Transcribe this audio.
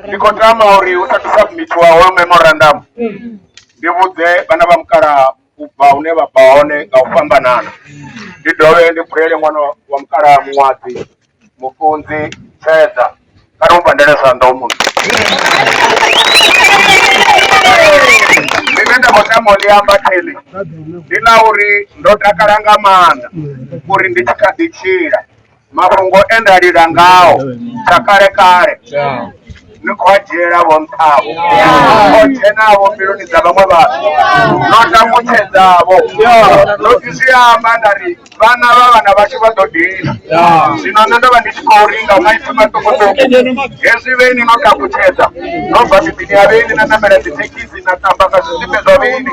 ndi khou tama uri u sathu submitiwa hoyo memorandum ndi vhudze vhana vha mukalaha u bva hune vha bva hone nga u fhambanana ndi dovhe ndi phurele ṅwana wa mukalaha muṅwadzi mufunzi tshedza kha ri mu pandele zwanḓa u muno ḽine nda khou tama u ḽi amba theli ndi ḽa uri ndo takala nga maanḓa uri ndi tshi kha ḓi tshila mafhungo e nda lila ngao sa kale kale ni khou a dzhiela vho nṱhavho o dzhenavho mbiluni dza vhaṅwe vhathu no tambutshedzavho no fhisiamba nda ri vhana vha vhana vhashu vha ḓo dina zwino nṋe ndo vha ndi tshi khou ringa maipfi maṱukuṱuku hezwi vheini no tambutshedza no bva miḓini ya vheini na namela dzithekhisi na tamba nga zwisimbe zwa vheini